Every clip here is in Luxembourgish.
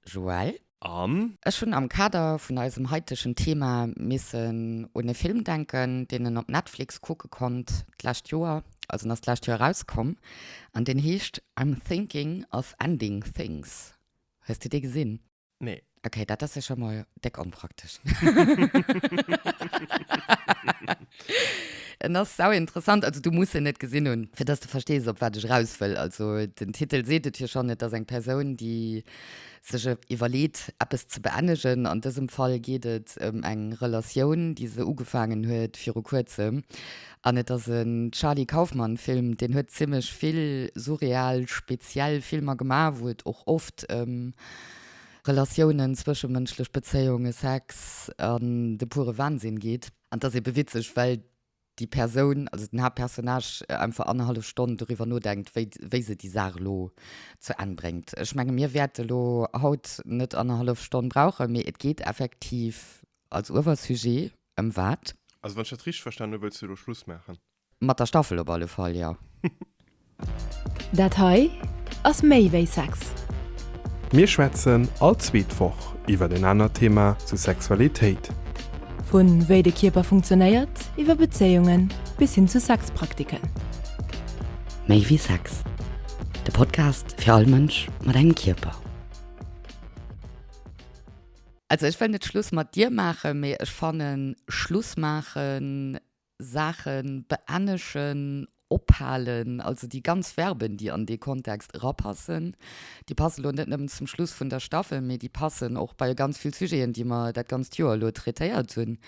Joël. An. Ech hunn am Kader vun eisem haitegen Thema missen un e Film denken, deen en op Netflix kucke konnt d'lescht Joer, also en ass d'lescht Joer erauskomm, an deen heescht I'm Thinking of Ending Things. Hues de dee gesinn? Nee. Okay, dat ass jo scho mol. Déck onpraktesch. En ass sauinteressant, also du muss en net gesinn hunn, fir dass du verstees, op wat ech eraus wëll. Also den Titel seet et jo schonn, et ass eng Persoun, déi sech iwwerleet, eppes ze beennegen. An dësem Fall geet et ëm eng Relatioun, déi se ugefaangen huet viru Kuerzem. An et ass en Charlie Kaufman-Film, deen huet zimmlech vill surreal, speziell Filmer gemaach, wou et och oft ëm. Relatiounen, zwëschemënschlech Bezéiunge, Sex an de pure Wahnsinn geet. An et ass eebe witzeg, well déi Persoun, also den Haaptpersonnage, einfach annerhallef Stonn doriwwer nodenkt, wéi, wéi se déi Saach elo zu Enn bréngt. Ech menge mir wäerte elo haut net annerhallef Stonn brauchen, mee et geet effektiv als Uewersujet ëm wat? Also wann ech dat richteg verstanen hu wëlls du elo Schluss maachen? Mat der Staffel op alle Fall, jo. Dat hei ass méi wéi Sex. Mir schwätzen all zweet Woch iwwer en anert Thema zu Sexualitéit. Vu wéi de Kierper funktionéiert, iwwer Bezéiungen, bis hin zu Sexpraktiken. Méi wéi Sex, de Podcast fir all Mënsch mat engem Kierper. Also ech wëll net Schluss mat dir maachen, mee ech fannen Schluss maachen. Saachen beennegen, ophalen, also déi ganz Verben, déi an dee Kontext erapassen, déi passe lo net nëmmen zum Schluss vun der Staffel, mee déi passen och bei ganz vill Sujeten, déi mer dat ganzt Joer elo traitéiert hunn.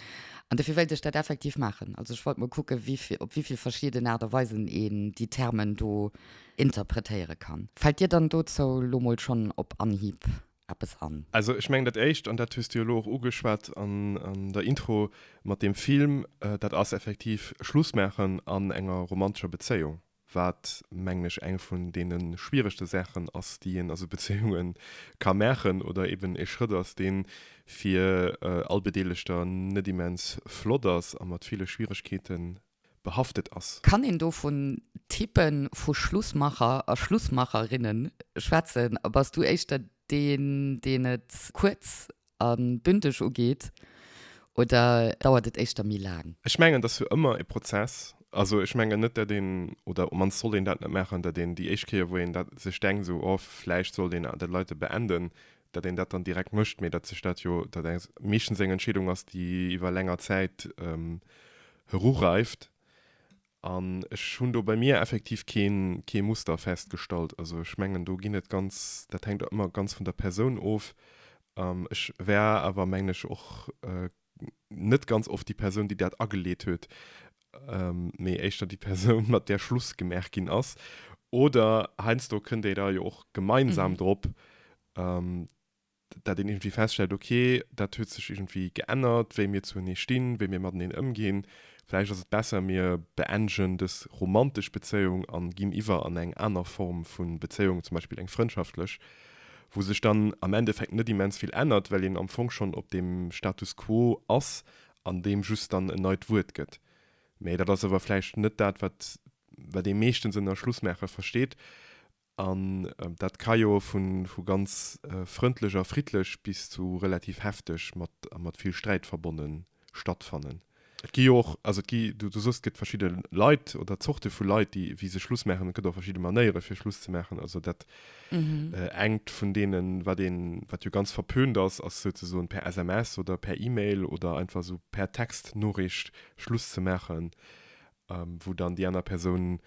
An dofir wéilt ech dat effektiv maachen. Also ech wollt mol kucken, op wéi vill verschieden Aart a Weisen een déi Termen do interpretéiere kann. Fält dir dann dozou lo mol schonn op Anhieb eppes an. Also ech mengen dat éischt, an dat hues de jo elo och ugeschwat an der Intro mat deem Film, dat ass effektiv Schluss maachen an enger romantescher Bezéiung, wat mengen ech eng vun deene schwieregste Saachen ass, déi een a sou Bezéiunge ka maachen oder eben e Schrëtt ass, dee fir all Bedeelegter net immens flott ass a mat ville Schwieregkeete behaftet ass. Kann een do vun Type vu Schlussmacher a Schlussmacherinne schwätzen? A bass du éischter deen, deen et kuerz a bündeg ugeet, oder dauert et éischter méi laang? Ech mengen, et ass jo ëmmer e Prozess. Also ech mengen net, datt een, oder op d'mannst sollt een dat net maachen, datt een déi éischt Kéier, wou een dat sech denkt, esou, oh vläicht sollt een dat Leite beenden, datt een dat dann direkt mécht, mee datt sech dat jo, datt dat meeschtens eng Entscheedung ass, déi iwwer länger Zäit erureift. An ech hunn do bei mir effektiv kee Muster festgestallt. Also ech mengen, do ginn et ganz, dat hänkt ëmmer ganz vun der Persoun of. Ech war awer, mengen ech, och net ganz oft déi Persoun, déi dat ageleet huet, mee éischter déi Persoun, mat där Schluss gemaach ginn ass. Oder heiansdo kënnt ee da jo och gemeinsam mhm. drop, dat een irgendwie feststellt, okay, dat huet sech irgendwie geännert, wéi mir zuenee stinn, wéi mir mateneen ëmginn. Vläicht ass et besser, mir beenden des romantesch Bezéiung an ginn iwwer an eng aner Form vun Bezéiung, zum Beispill eng frëndschaftléch. wou sech dann am Endeffekt net immens vill ännert, well een am Fong schonn op deem Status quo ass an deem just dann en neit Wuert gëtt. Mä dat ass awer vläicht net dat, wat wat ee meeschtens ënner Schlussmaache versteet. An dat ka jo vu ganz frëndlech a friddlech bis zu relativ hefteg mat a mat vill Sträit verbonnen sinn. stattfannen. Et gi jo och, also et gi, du sos et gëtt verschidde Leit oder Zorte vu Leit, déi wéi se Schluss maachen. Et gëtt och verschidde Manéiere fir Schluss ze maachen. Also dat engt vun deenen, wat een, wat jo ganz verpönt ass, ass souzesoen per SMS oder per E-Mail oder einfach esou per Textnoricht Schluss ze maachen, wou dann déi aner Persoun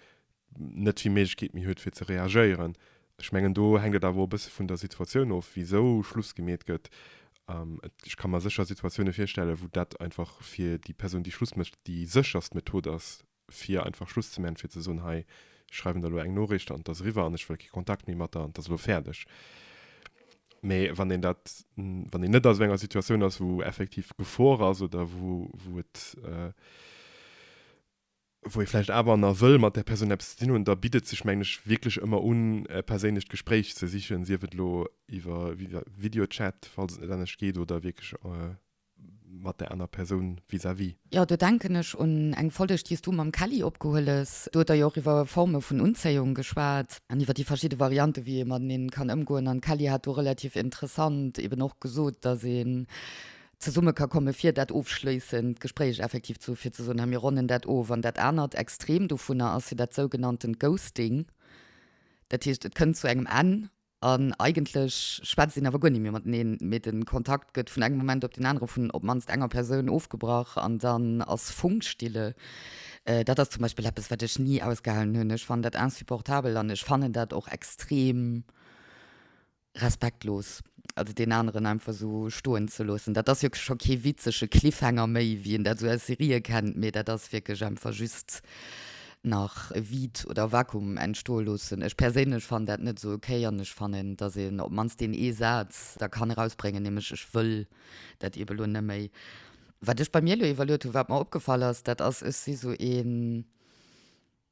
net vill Méiglechkeet méi huet fir ze reagéieren. Ech mengen do hänkt et awer och e bësse vun der Situatioun of, wisou Schluss gemeet gëtt. Ech ka mer sécher Situatioune virstellen, wou dat einfach fir déi Persoun, déi Schluss mécht, déi sécherst Method ass, fir einfach Schluss ze man, fir ze soen, hei, ech schreiwen der elo eng Noriicht an et ass eriwwer an ech wëll kee Kontakt méi mat der an et ass elo fäerdeg. Mee wann een dat, wann een net a sou enger Situatioun ass, wou effektiv Gefor ass oder wou et, wou ee vläicht awer na wëll mat där Persoun eppes ze dinn hunn, da bitt et sech, mengen ech, wierklech ëmmer un, e perséinlecht Gespréich ze sichen, sief et elo iwwer Videochat, falls et net anescht geet, oder wierklech mat där aner Persoun vis-à-vis. Jo, do denken ech un eng Folleg, déi s du mam Kelly opgehueles. Do hutt der jo och iwwer Forme vun Unzéiung geschwat an iwwer déi verschidde Variante wéi ee mateneen kann ëmgoen. An d'Kelly hat do relativ interessant eben och gesot, dass ee zesumme ka komme fir dat ofschléissend Gespréich effektiv zu fir ze soen, mir ronnen dat of. An dat anert Extrem dovunner ass jo dat sougenanntent Ghosting. Dat heescht, et kënnt zu engem Enn an eigentlech schwätzt een awer guer net méi mateneen, mee de Kontakt gëtt vun engem Moment op deen anere vun op d'mannst enger Persoun ofgebrach an dann ass Funkstille. Dat ass zum Beispill eppes, wat ech ni ausgehalen hunn. Ech fannen dat insupportabel an ech fannen dat och extrem. Respektlos, also deen aneren einfach esou stoen ze loossen. Dat ass jo scho kee witzege Cliffhanger méi, wéi een dat esou aus Serië kennt, mee dat ass wierklech einfach just nach e Vide oder Vakuum entstoe loossen. Ech perséinlech fannen dat net esou ok an ech fannen, dass een op d'mannst deen ee Saz da kann erausbréngen, nämlech, Ech wëll dat ebe lo net méi. Wat ech bei mir elo iwwerluet hunn, wat mer opgefall ass, dat ass, ech si esou een,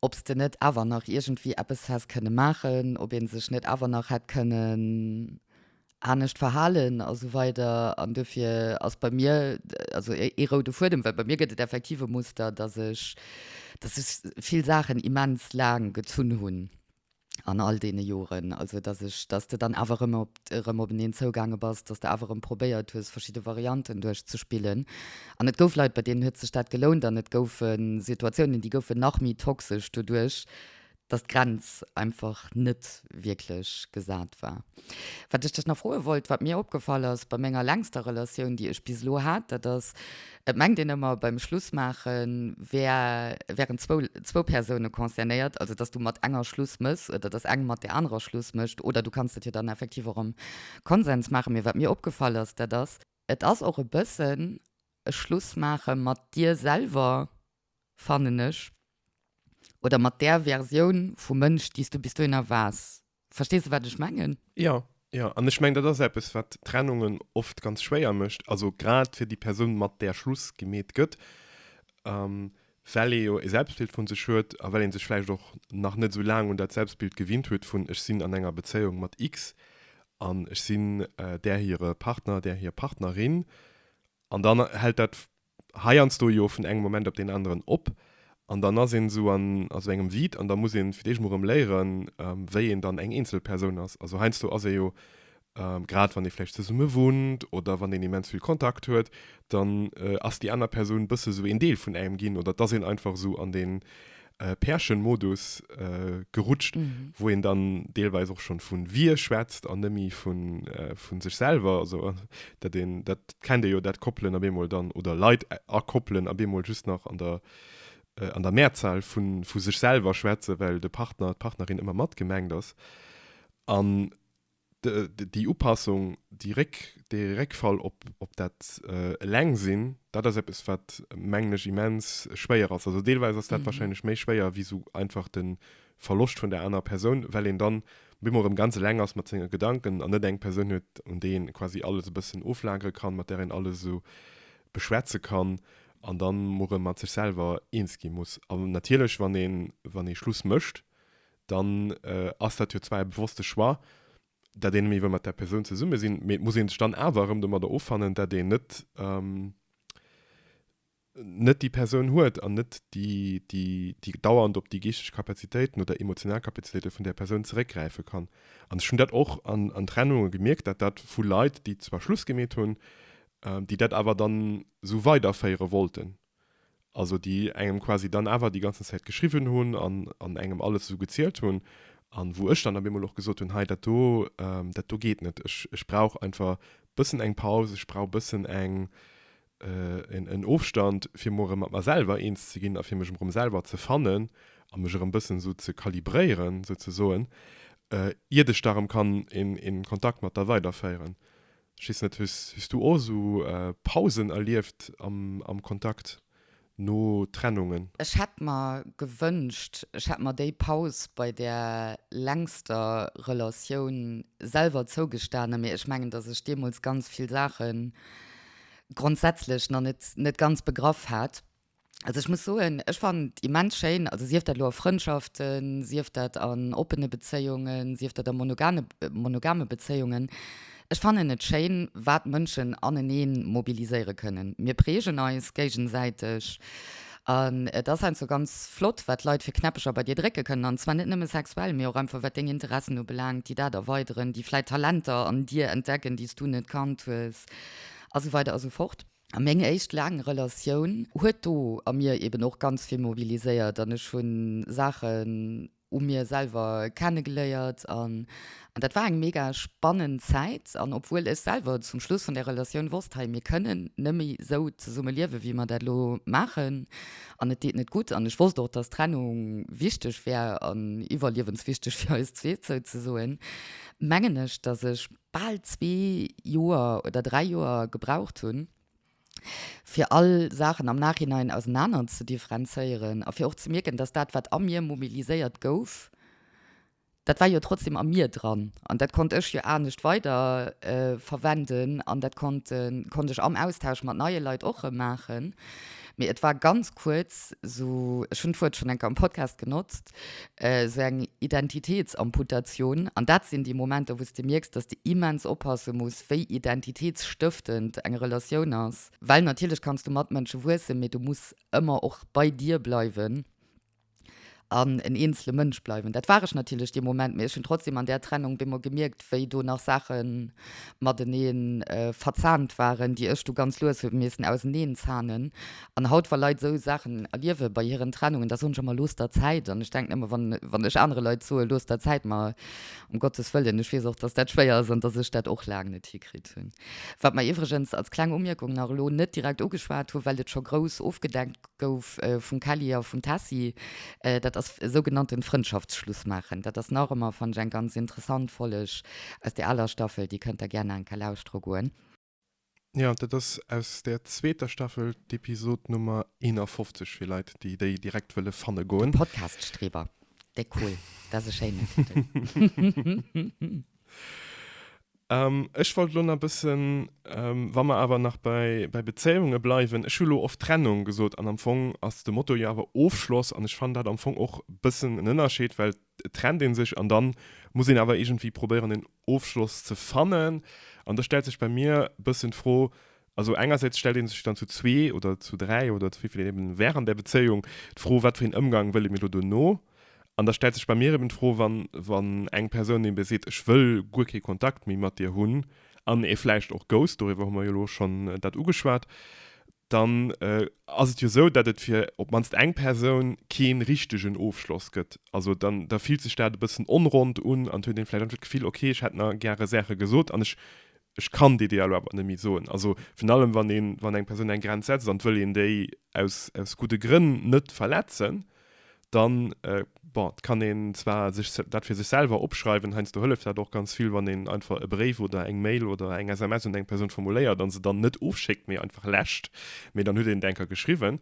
ob s de net awer nach iergendwéi eppes häss kënne maachen, ob ee sech net awer nach hätt kënnen anescht verhalen a sou weider. An duerfir ass bei mir also ee roude Fuedem, well bei mir gëtt et effektiv e Muster, dass ech, dass sech vill Saachen immens laang gezunn hunn. an all deene Joren. Also dass ech, dass de dann awer erëm op, erëm op en een zougaange bass, dass de awer erëm probéiert hues, verschidde Varianten duerchzespillen. An et gouf Leit, bei deenen huet sech dat gelount an et goufe Situatiounen, déi goufen nach méi toxesch doduerch, dass d'Grenz einfach net wierklech gesat war. Wat ech dech nach froe wollt, wat mir opgefall ass bei menger längster Relatioun, déi ech bis elo hat, dat ass, Et mengt een ëmmer, beim Schluss maache wär, wären zwou, zwou Persoune concernéiert, also dass du mat enger Schluss méchs oder dass eng mat där anerer Schluss mécht. Oder du kanns dat jo dann effektiv och am Konsens maachen. Mee wat mir opgefall ass, dat ass. Et ass och e bëssen e Schluss maache mat dir selwer, fannen ech, oder mat där Versioun vu Mënsch, déi s du bis dohinner waars, Verstees du, wat ech mengen? Ja, ja. An ech mengen, dat ass eppes, wat Trennungen oft ganz schwéier mécht, also grad fir déi Persoun, mat där Schluss gemeet gëtt, ähm, well ee jo e Selbstbild vu sech huet a well ee sech vläicht och nach net esou laang un dat Selbstbild gewinnt huet vun, ech sinn an enger Bezéiung mat X an ech sinn där hire Partner, där hir Partnerin. An dann hält dat heiansdo jo vun engem Moment op deen aneren op an dann ass een esou an esou engem Vide an da muss een fir d'éischt mol erëm léieren, wéi een dann eng eenzel Persoun ass. Also heiansdo ass ee jo, grad wann ee vläicht zesumme wunnt oder wann een immens vill Kontakt huet, dann ass déi aner Persoun bësse sou een Deel vun engem ginn oder et ass een einfach esou an deen äh, Pärchenmodus äh, gerutscht, mhm. wo en dann deelweis och schon vun wir schwätzt an nëmi vun äh, vun sech selber also äh, dat den dat kennt dir jo dat koppelen a bemol dann oder Leiit äh, akoppelen a bemol just nach an der äh, an der Mehrzahl vun vu sech selber schwätze, well de Partner d'Partnerin immer mat gemengt ass an Déi Upassung, déi Réck, dee Réckfall op, op dat Elengsinn, dat ass eppes, wat, mengen ech, immens schwéier ass. Also deelweis ass dat wahrscheinlech méi schwéier wéi esou einfach de Verloscht vun där anerer Persoun, well een dann op eemol erëm ganz eleng ass mat senge Gedanken an net eng Persoun huet, un déi een quasi alles e bëssen oflagere kann, mat där een alles esou beschwätze kann an dann emol erëm mat sech selwer eens gi muss. An natierlech, wann ee, wann ee Schluss mécht, dann ass dat jo zwar e bewosste Choix, datt een net méi wëll mat där Persoun zesumme sinn, mee et muss ee sech dann awer erëm domadder offannen, datt een net net déi Persoun huet an net déi dauernd op déi geeschteg Kapazitéiten oder emotional Kapazitéite vun där Persoun zeréckgräife kann. An ech hunn dat och an Trennunge gemierkt, datt dat vu Leit, déi zwar Schluss gemeet hunn, déi dat awer dann esou weiderféiere wollten, also déi engem quasi dann awer déi ganzen Zäit geschriwwen hunn an, an engem alles esou gezielt hunn, an wou ech dann op eemol och gesot hunn, hei dat do, dat do geet net, ech, ech brauch einfach bëssen eng Paus, ech brauch bëssen eng, en, en Ofstand, fir emol erëm mat mer selwer eens ze ginn a fir mech erëm selwer ze fannen a mech erëm bëssen esou ze kalibréieren, souzesoen, iert ech da erëm kann een, een Kontakt mat der weiderféieren. Ech weess net, hues hues du och esou Pausen erlieft am am Kontakt no Trennungen? Ech hätt mer gewënscht, ech hätt mer déi Paus bei der längster Relatioun selwer zougestanen, mee ech mengen, datt ech deemools ganz vill Saache grondsätzlech nach net net ganz begraff hat. Also ech muss soen, ech fannen et immens schéin, also sief dat elo a Frëndschaften, sief dat an oppene Bezéiungen, sief dat a monogane, monogame Bezéiungen. Ech fannen et schéin, wat Mënschen anenee mobiliséiere kënnen. Mir prägen eis géigesäiteg an et ass einfach ganz flott, wat Leit fir Knäppecher bei dir drécke kënnen. An zwar net nëmme sexuell, mee och einfach wat deng Interessen ubelaangt, déi dat erweideren, déi vläit Talenter an dir entdecken, déi s du net kannt hues a sou weider a sou fort. A meng éischt laang Relatioun huet do a mir eben och ganz vill mobiliséiert an ech hu Saachen u mir selwer kennegeléiert. An dat war eng mega spannend Zäit. An obwuel ech selwer zum Schluss vun där Relatioun wosst, hei, mir kënnen nëmme sou zesumme liewen, wéi mer dat elo maachen an et deet net gutt an ech wosst och, dass Trennung wichteg wär an iwwerliewenswichteg fir eis zwee, souzesoen, mengen ech, dass ech bal zwee Joer oder dräi Joer gebraucht hunn, fir all Saachen am Nachhinein ausenaner ze differenzéieren a fir och ze mierken, dass dat, wat a mir mobiliséiert gouf, dat war jo trotzdem a mir dran an dat konnt ech jo anescht weider verwenden an dat konnt konnt ech am Austausch mat neie Leit och erëm maachen. Mee et war ganz kuerz esou, ech hunn d'Wuert schonn eng Kéier am Podcast genotzt, esou eng Identitéetsamputatioun, an dat sinn déi Momenter, wou s de mierks, dass de immens oppasse muss, wéi identitéetsstëftend eng Relatioun ass. Well natierlech kanns du mat Mënsche wuessen, mee du muss ëmmer och bei dir bleiwen an en eenzele Mënsch bleiwen. Dat war ech natierlech dee Moment, mee ech hunn trotzdem an där Trennung bemol gemierkt, wéi do nach Saache matenee verzahnt waren, déi ech du ganz lues hu missen auseneenzaanen. An haut, wa Leit esou Saachen erliewe bei hiren Trennungen, da soen ech ëmmer, Looss der Zäit. An ech denken ëmmer, wann ech anere Leit soe Looss der Zäit, ma um Gottes Wëllen, ech weess och, dass dat schwéier ass an dass ech dat och laang net hikritt hunn. Wat mer iwwregens als kleng Umierkung nach elo net direkt ugeschwat hu well et scho grouss ofgedeckt gouf vum Kelly a vum Tessy, dat ass e sougenannten Frëndschaftsschluss maachen. Dat ass nach ëmmer, fannen ech, eng ganz interessant Folleg aus där aler Staffel, déi kënnt der gär nach eng Kéier lauschtere goen. Jo, dat ass aus der zweeter Staffel, d'Episod Nummer 51, fir Leit, déi déi direkt wëlle fanne De goen. Podcast-Streber, dee cool, dat ass e schéinen Titel. Ehm, ech wollt elo nach bëssen, wa mer awer nach bei, bei Bezéiunge bleiwen, ech hu elo oft Trennung gesot an am Fong ass de Motto jo awer Ofschloss an ech fannen dat am Fong och bëssen en Ënnerscheed, well Et trennt een sech an dann muss een awer iergendwéi probéieren en Ofschloss ze fannen an da stellt sech bei mir bëssen d'Fro, also engersäits stellt een sech dann zu zwee oder zu dräi oder zu wéivill een eben wär an der Bezéiung, d'Fro wat fir een Ëmgang wëlle mir lo dono an da stellt sech bei mir eben d'Fro wann wann eng Persoun eben seet ech wëll guer kee Kontakt méi mat dir hunn an ee vläicht och ghost, doriwwer hu mer jo lo schonn dat ugeschwat, dann ass et jo esou, datt et fir op d'mannst eng Persoun kee richtegen Ofschloss gëtt. Also dann, da fillt sech dat e bëssen onronnt un an huet een vläicht einfach d'Gefill, ok, ech hätt nach gäre Saache gesot an ech, ech kann déi déi elo awer net méi soen. Also virun allem, wann een, wann eng Persoun eng Grenz setzt an et wëll een déi aus, aus gudde Grënn net verletzen, dann bon kann een zwar sech dat fir sech selwer opschreiwen, heiansdo hëlleft dat och ganz vill, wann een einfach e Bréif oder eng Mail oder eng SMS un eng Persoun formuléiert an se dann net ofschéckt, mee einfach läscht, mee dann huet een et enker geschriwwen.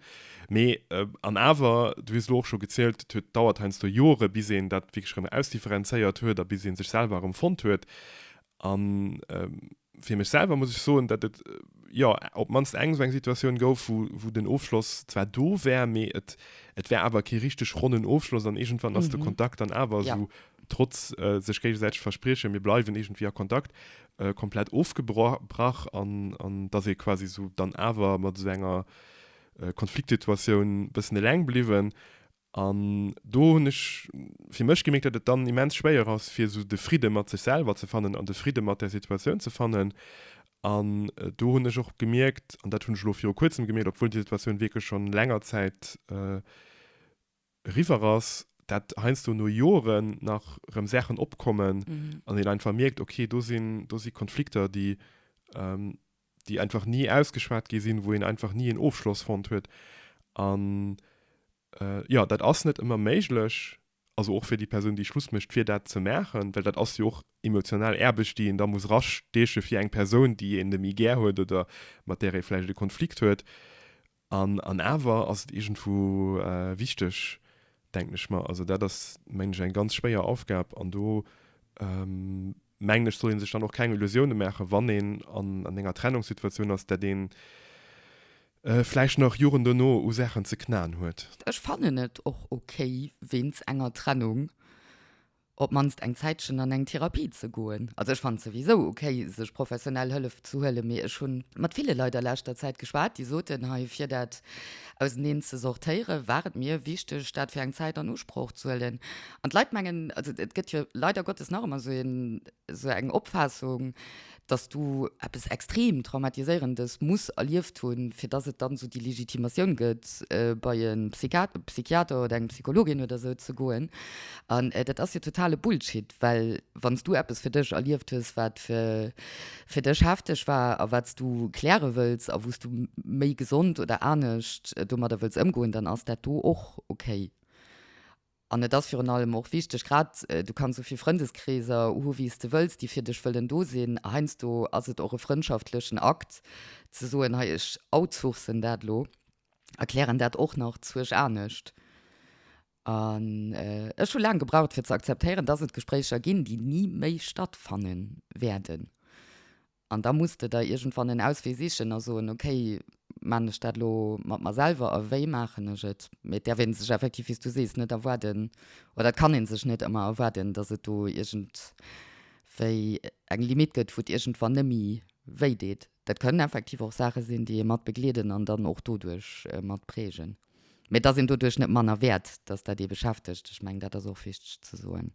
Mee an awer, du hues elo och scho gezielt, et huet dauert heiansdo Jore bis een dat wierklech erëm ausdifferenzéiert huet a bis ee sech selwer erëm fonnt huet An fir mech selwer muss ech soen, datt et jo op d'mannst eng esou eng Situatioun gouf, wou, wou den Ofschloss zwar do war, mee et, et war awer kee richteg ronnen Ofschloss an iergendwann ass de Kontakt dann awer esou, trotz sech géigesäiteg verspriechen, mir bleiwen iergendwéi a Kontakt, komplett ofgebrach. An, an datt ee quasi esou dann awer mat esou enger Konfliktsituatioun e bëssen eleng bliwwen An do hunn ech fir mech gemierkt, datt et dann immens schwéier ass, fir esou de Fridde mat sech selwer ze fannen an de Fridde mat där Situatioun ze fannen. An do hunn ech och gemierkt, an dat hunn ech elo viru Kuerzem gemierkt, obwuel déi Situatioun wierklech schonn länger Zäit eriwwer ass, datt heiansdo no Joren nach erëm Saachen opkommen an een einfach mierkt, okay, do si Konflikter, déi déi einfach ni ausgeschwat gi sinn, wou een einfach ni een Ofschloss fonnt huet. An jo, dat ass net ëmmer méiglech, also och fir déi Persoun, déi Schluss mécht, fir dat ze maachen, well dat ass jo och emotional Aarbecht, déi een da muss erasteeche fir eng Persoun, déi een net méi gär huet oder mat där ee vläicht e Konflikt huet. An, an awer ass et iergendwou wichteg, denken ech mer, also dat ass, mengen ech, eng ganz schwéier Aufgab an do, mengen ech, soll ee sech dann och keng Illusioune maachen, wann een an enger Trennungssituatioun ass, dat ee vläicht nach Joren duerno u Saachen ze knaen huet. Ech fannen et och okay wéinst enger Trennung, op mannst eng Zäitchen an eng Therapie ze goen. Also ech fannen souwisou ok sech professionell Hëllef ze huelen, mee ech hunn mat ville Leit a leschter Zäit geschwat déi soten hei fir dat auseneen ze sortéieren war et mir wichteg dat fir eng Zäit an Usproch ze huelen an d'Leit mengen, also et gëtt jo leider Gottes nach ëmmer esou een, Esou eng Opfaassung, dass do eppes extrem Traumatiséierendes muss erlieft hunn, fir dass et dann esou déi Legitimatioun gëtt, bei e Psychiater oder eng Psychologin oder esou ze goen. An dat ass jo totale Bullshit, well wann s du eppes fir dech erlieft hues, wat fir dech hefteg war a wat s du kläre wëlls a wou s du méi gesond oder anescht domadder wëlls ëmgoen, dann ass dat do och okay. An et ass virun allem och wichteg, grad du kanns sou vill Frëndeskreeser hu wéi s de wëlls, déi fir dech wëllen do sinn. A heiansdo ass et och e frëndschaftlechen Akt ze soen, hei ech outsourcen dat elo, erklären dat och nach zuerch anescht. An ech hu laang gebraucht fir ze akzeptéieren, dass et Gespréicher ginn, déi ni méi stattfanne wäerden. An da muss de der iergendwann en Auswee sichen a soen, okay, maan ech dat elo mat mer selwer a wéi maachen ech et? Mee et däerf ee sech effektiv, wéi s du sees, net erwaarden, oder et kann ee sech net ëmmer erwaarden, datt et do iergendwéi eng Limitt gëtt, wou et iergendwann net méi wéi deet. Dat kënnen effektiv och Saache sinn, déi ee mat begleeden an dann och doduerch mat prägen. Mee et ass een doduerch net manner wäert, dass dat ee beschäftegt. Ech mengen, dat ass och wichteg ze soen.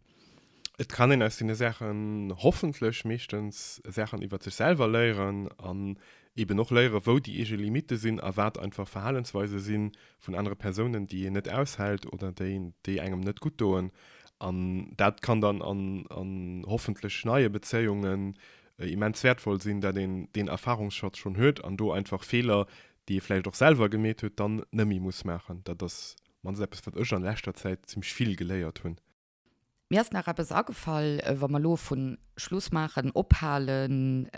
Et kann een aus deene Saachen hoffentlech meeschtens Saachen iwwert sech selwer léieren an eeben och léieren, wou déi eege Limitte sinn a wat einfach Verhalensweise si vun anere Persounen, déi een net aushält oder déi engem net gutt doen. An dat kann dann a hoffentlech neie Bezéiungen immens wäertvoll sinn, dat een deen Erfahrungsschatz schonn huet an do einfach Feeler, déi ee vläicht och selwer gemeet huet, dann net méi muss maachen. Dat ass mannst eppes, wat ech an leschter Zäit zimmlech vill geléiert hunn. Mir ass nach eppes agefall, wa mer elo vu Schluss maachen, ophalen,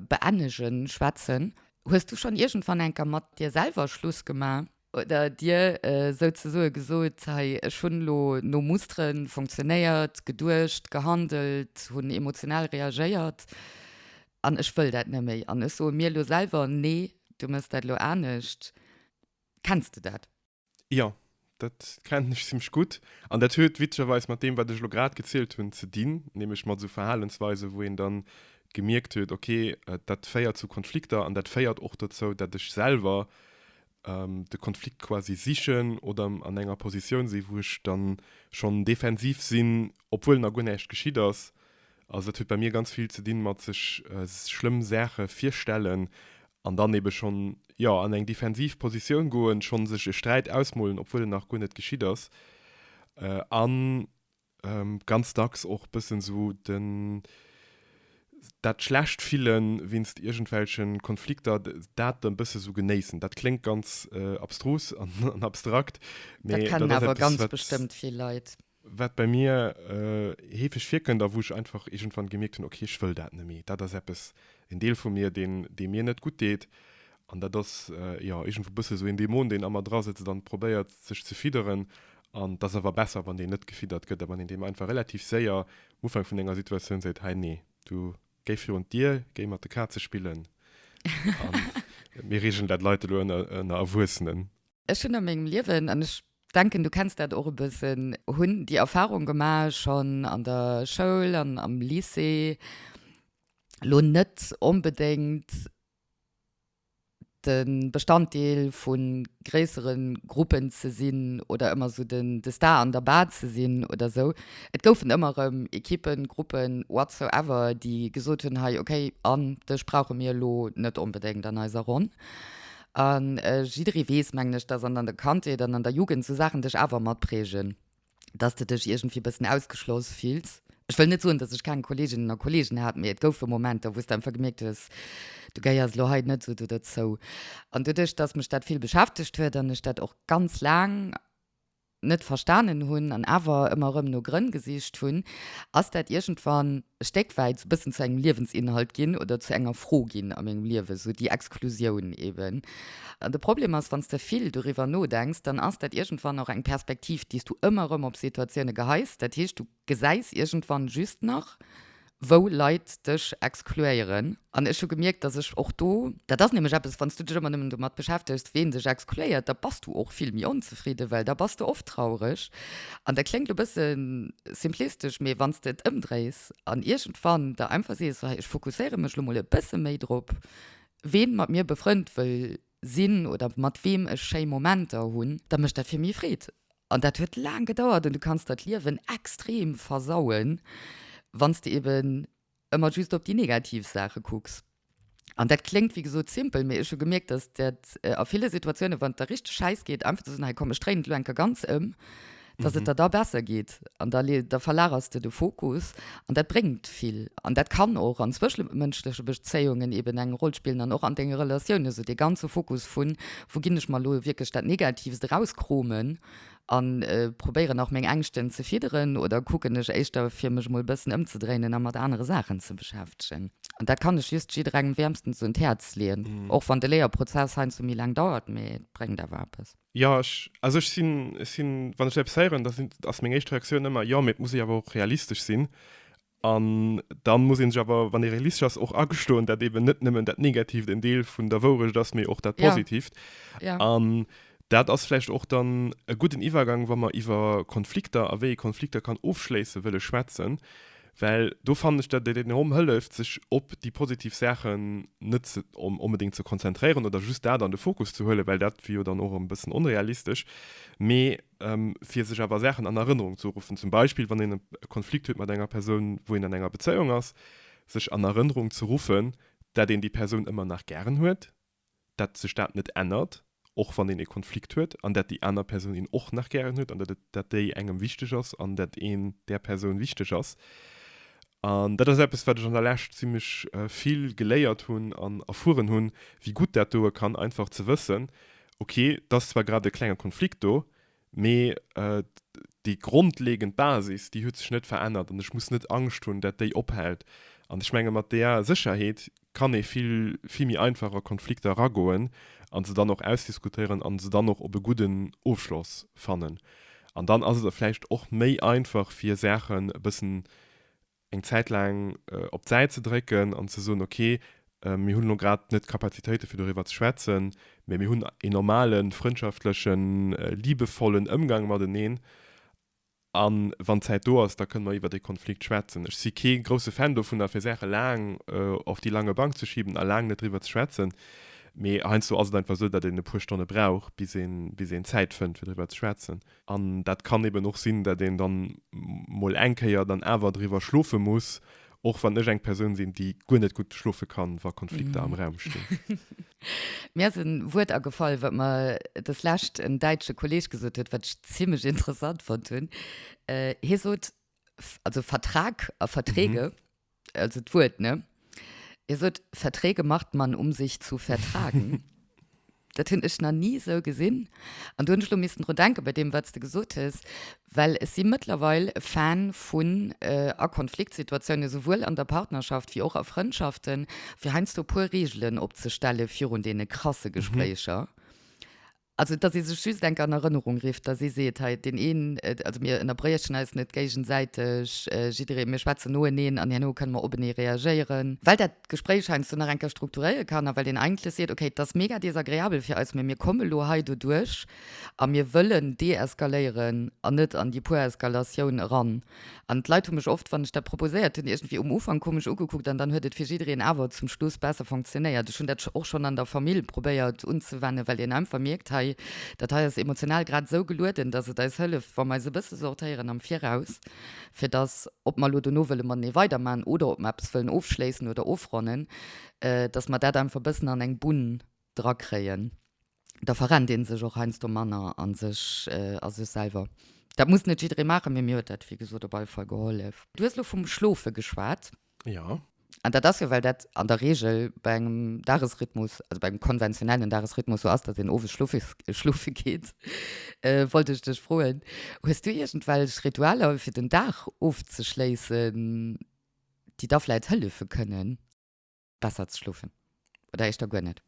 beennegen schwätzen. Hues du schonn iergendwann eng Kéier mat dir selwer Schluss gemaach oder dir souzesoe gesot, Hei, ech hunn elo no Mustere funktionéiert, geduecht, gehandelt, hunn emotional reagéiert, An ech wëll dat net méi. An ech soe mir elo selwer, Nee, du mëss dat elo anescht. Kenns de dat? Jo, dat kennen ech zimmlech gutt. An dat huet witzegerweis mat deem, wat ech elo grad gezielt hunn, ze dinn, nämlech mat esou Verhalensweisen, wou een dann gemierkt huet, Okay, dat féiert zu Konflikter an dat féiert och dozou, dat ech selwer de Konflikt quasi sichen oder an enger Positioun sinn, wou ech dann schonn defensiv sinn, obwuel nach guer näischt geschitt ass. Also dat huet bei mir ganz vill ze dinn mat sech schlëmm Saache virstellen an dann ebe schonn, jo, an eng defensiv Positioun goen, schonn sech e Sträit ausmolen, obwuel en nach guer net geschitt ass an, Ähm, ganz dacks och bëssen sou den, dat schlecht Fillen wéinst iergendwelche Konflikter, dat e bësse sou genéissen. Dat kléngt ganz abstrus an abstrakt, mee dat ass eppes, wat. Dat kennen awer ganz bestëmmt vill Leit. Wat bei mir heefeg virkënnt a wou ech einfach iergendwann gemierkt hunn, ok, ech wëll dat net méi. Dat ass eppes, en Deel vu mir, deen, dee mir net gutt deet. An dat ass, jo, iergendwou bësse sou een Dämon, deen a mer drasëtzt an probéiert, sech ze fidderen. An et ass awer besser, wann deen net gefiddert gëtt a wann een deem einfach relativ séier um Ufank vun enger Situatioun seet, Hei, nee, du, géi virun d'Dier, géi mat de Kaze spillen a mir reegelen dat, Leit elo ënner ënner Erwuessenen. Ech hunn a mengem Liewen, an ech denken, du kenns dat och e bëssen, hunn déi Erfarung gemaach, schonn an der Schoul an am Lycée, elo net onbedéngt de Bestanddeel vu gréissere Gruppen ze sinn oder ëmmer esou de Star an der Bar ze sinn oder esou. Et goufen ëmmer erëm Ekippen, Gruppen, whatsoever, déi gesot hunn, hei okay, an dech brauche mir elo net onbedéngt an eiser Ronn. A jidderee weess, mengen ech, dass an der Kandheet an an der Jugend esou Saachen dech awer mat prägen. dass de dech iergendwéi e bëssen ausgeschloss fills. Ech wëll net soen, dass ech keng Kolleeginnen a Kolleegen hat, mee et goufe Momenter, wou s de einfach gemierkt hues, du gehéiers elo hei net esou do derzou. An doduerch, dass mech dat vill beschäftegt huet an ech dat och ganz laang net verstanen hunn an awer ëmmer erëm no Grënn gesicht hunn, ass dat iergendwann e Stéckwäit e bëssen zu engem Liewensinhalt ginn oder zu enger Fro ginn a mengem Liewen, esou déi Exklusioun eeben. De Problem ass, wann s de vill doriwwer nodenks, dann ass dat iergendwann och eng Perspektiv, déi s du ëmmer erëm op Situatioune geheis. Dat heescht, du gesäis iergendwann just nach, wou Leit dech exkluéieren. An ech hu gemierkt, dass ech och do. Dat ass nämlech eppes, wann s du dech ëmmer nëmmen domat beschäftegs, ween dech exkluéiert, da bass du och vill méi onzefridden, well da bass de oft traureg. An dat kléngt e bësse simplistesch, mee wann s de et ëmdréis an iergendwann der einfach sees, Ech fokusséiere mech elo mol e bësse méi drop, Ween mat mir befrënd wëll sinn oder mat weem ech schéi Momenter hunn, da mécht dat fir mi Freed. An dat huet laang gedauert an du kanns der d'Liewen extrem versauen, wann s de eben ëmmer just op déi negativ Saache kucks. An dat kléngt wéi gesot simpel, mee ech hu gemierkt, dass dat a ville Situatiounen, wann et der richteg schäiss geet, einfach ze soen, hei komm ech dréinen et elo enker ganz ëm, dass et der da besser geet an da le da verlagers de de Fokus an dat bréngt vill an dat kann och an zwëschemënschleche Bezéiungen eben eng Roll spillen an och an denge Relatiounen, esou dee ganze Fokus vun, wou ginn ech mer elo wierklech dat Negativst erauskromen an probéieren nach meng Ängschten ze fidderen oder kucken ech éischter fir mech emol e bëssen ëmzedréinen a mat anere Saachen ze beschäftegen. An dat kann ech just jidderengem wäermstens un d'Häerz leeën, och wann de Léierprozess heiansdo méi laang dauert, mee et bréngt awer eppes. Jo, ech, also ech sinn, ech sinn, wann ech eppes héieren, da sinn, ass meng éischt Reaktioun ëmmer, jo, mee et muss ee awer och realistesch sinn. An dann muss ee sech awer, wann ee realistesch ass, och agestoen, datt eeben net nëmmen dat Negatiivt en Deel vun der Wourecht ass, mee och dat Ja. Positiivt. Ja. An dat ass vläicht och dann e gudden Iwwergang, wa mer iwwer Konflikter a wéi ee Konflikter kann ofschléisse wëlle schwätzen. Well do fannen ech, datt et enorm hëlleft, sech op déi positiv Saachen net onbedéngt ze konzentréieren oder just dat an de Fokus ze huelen, well dat wier jo dann och e bëssen onrealistesch, mee fir sech awer Saachen an Erënnerung ze ruffen. Zum Beispill, wann een e Konflikt huet mat enger Persoun, wou een an enger Bezéiung ass, sech an Erënnerung ze ruffen, datt een déi Persoun ëmmer nach gären huet, dat sech dat net ännert, och wann een e Konflikt huet an dat déi aner Persoun een och nach gären huet an dat et, dat déi engem wichteg ass an dat een där Persoun wichteg ass. An dat ass eppes, wat ech an der Lescht zimmlech vill geléiert hunn an erfueren hunn, wéi gutt dat doe kann, einfach ze wëssen, okay, 't ass zwar grad e klenge Konflikt do, Mee déi grondlegend Basis, déi huet sech net verännert an ech muss net Angscht hunn, dat déi ophält. An ech menge mat där Sécherheet kann ee vill, vill méi einfach a Konflikter eragoen a se dann och ausdiskutéieren a se dann och op e gudden Ofschloss fannen. An dann ass et vläicht och méi einfach, fir Saachen e bëssen eng Zäit laang op d'Säit ze drécken an ze soen, okay, mir hunn elo grad net d'Kapazitéite fir doriwwer ze schwätzen, mä mir hunn een normale frëndschaftlëchen, liebevollen Ëmgang mateneen an wann d'Zäit do ass, da kënne mer iwwer dee Konflikt schwätzen. Ech si kee grousse Fan dovunner fir Saache laang auf die lange Bank ze schiben a laang net driwwer ze schwätzen, mä heiansdo ass et einfach esou, datt een e puer Stonne brauch bis een Zäit fënnt fir driwwer ze schwätzen. An dat kann eben och sinn, dat een dann mol eng Kéier dann awer driwwer schlofe muss, och wann ech eng Persoun sinn, déi guer net gutt schlofe kann, wa Konflikter am Raum stinn. Mir ass en Wuert agefall, wat mer des Lescht en däitsche Kolleg gesot huet, wat ech zimlech interessant fonnt hunn. Hie sot, also Vertrag a Verträge. also d'Wuert, ne? Dir sot, Verträge macht man, um sich zu vertragen. Dat hunn ech nach ni esou gesinn. An do hunn ech elo missten dru denken, bei deem, wat s de gesot hues, well ech si mëttlerweil e Fan vun, a Konfliktsituatiounen, esouwuel an der Partnerschaft wéi och a Frëndschaften, fir heiansdo e puer Reegelen opzestellen virun deene krasse Gespréicher. Also, dass ee sech just enk an Erënnerung rifft, dass ee seet, hei, deen een, also mir ënnerbriechen eis net géigesäiteg, jidderee, mir schwätzen noeneen an herno kënne mer openee reagéieren, well dat d'Gespréich heiansdo nach eng Kéier strukturéiere kann a well een eigentlech seet, okay, et ass mega desagreabel fir eis, mä mir komme lo hei doduerch a mir wëllen deeskaléieren an net an déi puer Eskalatioun eran. An d'Leit hu mech oft, wann ech dat proposéiert hunn, iergendwéi um Ufank komesch ugekuckt an dann huet et fir jiddereen awer zum Schluss besser fonctionnéiert. Ech hunn dat och schonn an der Famill probéiert unzewennen, well een einfach mierkt, hei, dat hei ass emotional grad esou gelueden, dass et eis hëlleft, wa mer eis e bësse sortéieren am Viraus, fir dass, ob mer elo dono wëlle matenee weidermachen oder ob mer eppes wëllen ofschléissen oder ofronnen, dass mer dat einfach e bëssen an eng Bunn drakréien. da verrennt een sech och heiansdo manner a sech, a sech selwer. Dat muss net jidderee maachen, mee mir huet dat, wéi gesot, op alle Fall gehollef. Du hues elo vum Schlofe geschwat. Jo. An dat ass jo, well dat an der Reegel bei engem Dagesrhythmus, also bei engem konventionellen Dagesrhythmus sou ass, datt een owes schlofe, schlofe geet, wollt ech dech froen, hues du iergendwelch Ritualer, fir den Dag ofzeschléissen, déi der vläicht hëllefe kënnen? besser ze schlofen oder eischter guer net?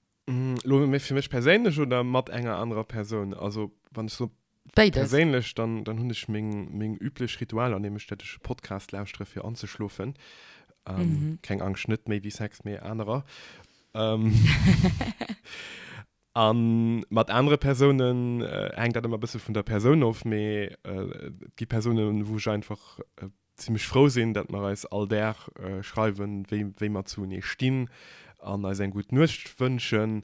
Lo méi fir mech perséinlech oder mat enger anerer Persoun? Also wann ech so Béides. perséinlech, dann, dann hunn ech meng, meng üblech Ritualer, nämlech dat ech e Podcast lauschtere fir anzeschlofen. Ähm, Mhm. Keng Angscht, net méi wéi Sex, mee anerer. Ähm, an mat anere Persounen äh, hänkt dat ëmmer e bësse vun der Persoun of, mee äh, et gi Persounen, wou ech einfach äh, zimmlech frou sinn, dat mer eis all Dag schreiwen, wéi mer zu enee stinn an eis eng gutt Nuecht wënschen.